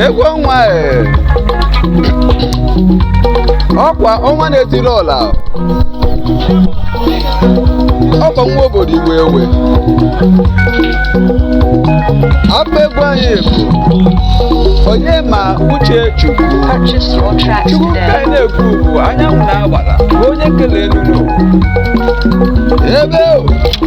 egwu ọnwa e. ọkwa ọnwa na-etiri ọra ọkwa nwa obodo iwe ewe abụ egwu anyị bụ onye ma uche chukwu ka anyị na-ekwu bụ anyanwụ na agbara bụ onye kele elu ụwa ebe o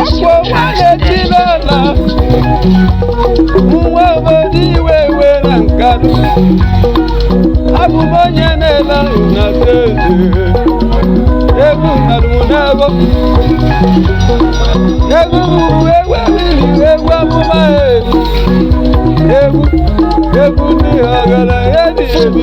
ọkwa ọnwa na-etiri ọra nwa obodo iwe ewe na nkanụ abụ m onye na-ele na steeti egwu nkanụ m n'ego egwu bụ egwu mmiri egwu amụma egwu egwu ndị ọgaranya dị ebi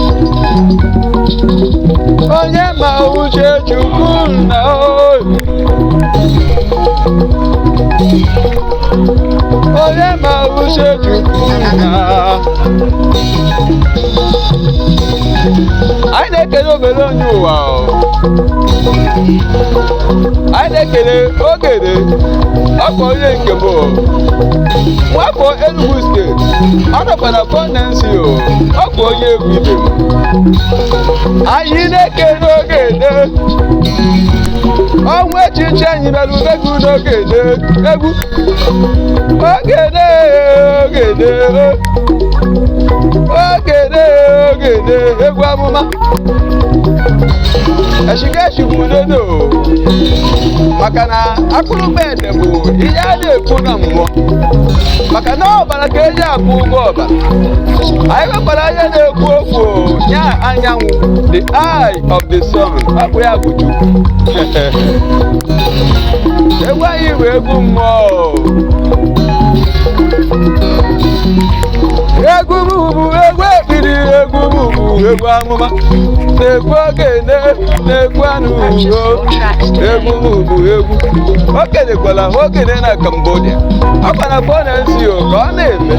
onye ma uche chukwu nna o onye ma uche chukwu nna anyị na-ekele obere onye ụwa o. anyị na-ekele ogene ọkwa onye nke bụ nwafọ Enugu steeti ọ nọkwa na kọndensi o ọkwa onye egwu ibe m anyị na-ekele ogene ọnwa echichi anyị mere ubegbu n'ogene egwu ogene ogene ogene ogene egwu amụma eshikeshi bụ udodo maka na akpụrụ bed nke bụ ihe a na-ekwu na mmụọ maka na ọbara ka eji akwụ ụgwọ ọbara anyị nwekwara ihe na-ekwu okwu ya anyanwụ the eye of the sun ọ bụ ya bụ Chukwu egwu anyị bụ egwu mmụọ egwu m bụ egwu ekpiri egwu m bụ egwu amụma na egwu ogene na egwu anụ egwu bụ egwu o kenekwala ha ogene na Cambodia ọkwa na fọ na nsi o ka ọ na-eme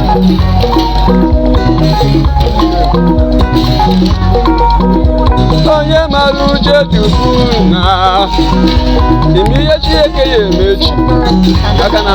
onye mara uche chukwu na ime ihe Chineke ya-eme echi maka na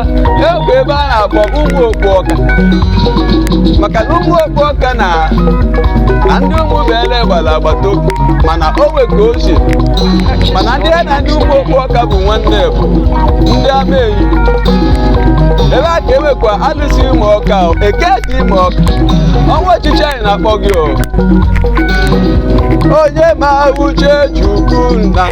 e nwe ebe a na-akpọ ụmụ okpu ọka maka na ụmụ okpu ọka na na ndị ụmụ bele gbara agbata obi mana o nwe ka o si mana ndị ya na ndị ụmụ okpu ọka bụ nwanne bụ ndị Amaenyi ebe a ka enwekwa alụsị imo ọka o, eke ka imo ọka ọnwa ọchịchị anyị na-akpọ gị o onye ma uche chukwu nna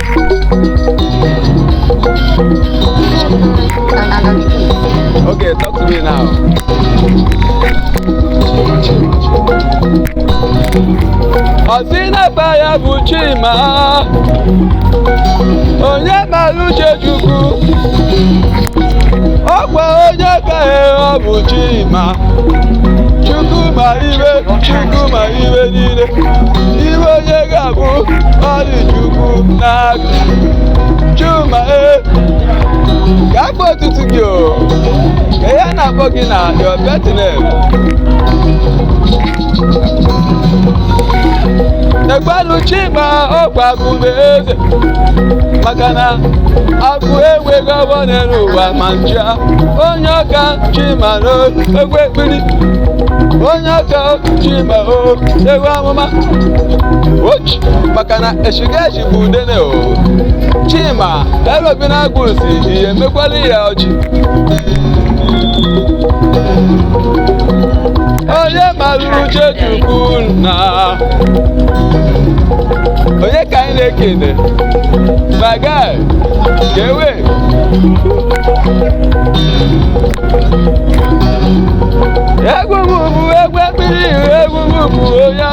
Okay, talk to me now. Ọsị na-aba ya bụ Chima, onye mara uche Chukwu. Ọkwa onye ka ọ bụ Chima. Chukwu ma ihe, Chukwu ma ihe niile. Ihe onye ga-abụ ọ dị Chukwu n'aka chima e ga-akpọ otutu gị o ka ihe a na-akpọ gị na your birth name egwelu chima ọkwa akụbe eze maka na akụ enweghị ọgbọ n'elu ụwa ma ncha onye ọka chima na egwu ekpiri onye ọka chima o egwu amụma ochi maka na eshigashi bụ udene o chima elobi na agụ si ihe mekwala ya ọchị onye mara uche chukwu na onye ka anyị na-ekene my guy gewe egwu m bụ egwu ekpiri egwu m bụ onye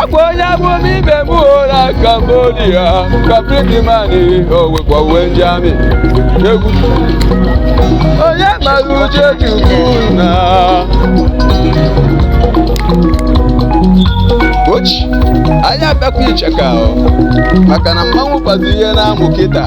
ọkwa onye abụ m ibe m ụra Cambodia kapitịmanị owekwa uwe ndị army egwu onye mara uche chukwu na ochi anyị abịakwa icheka ọ, maka na mmanwụ kpazi ihe na-amụ kịta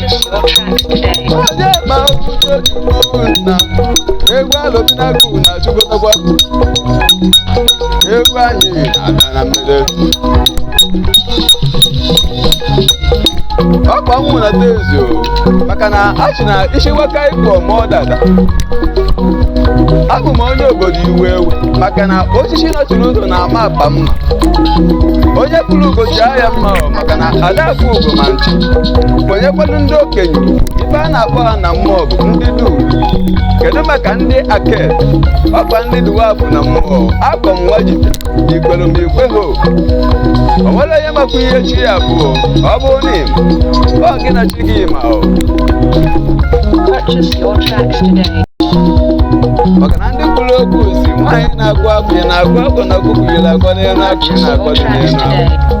onye ma uche chukwu na egwu alụminagu na achịkọtakwa egwu anyị na-abịa na mmede ọkwa nwụ na tezi o maka na achị na ishiwaka ịkọ ma ọ dada abụ m onye obodo iwe ewe maka na osisi nọchiri ụzọ na-ama apa mma onye kpụrụ ugo ji ahịa mma ọ maka na adakụ ugo ma nchụ kwenyekwanụ ndị okenye ife a na-akpọ ha na mmụọ bụ ndị dum kedu maka ndị aket ọkwa ndị duwafụ na mmụọ akọ m nwa jide ikwere m ikwe ho o nwere onye makwa ihe chi ya bụ ọ bụ na ịma ọ gị na chi gị ma ọ maka na ndị kwuru okwu si nwaanyị na-agụ akwụ ya na-agụ akwụ na ọkụkụ yiri akwa n'elu akwụ ya na-akwa dị n'elu akwụ.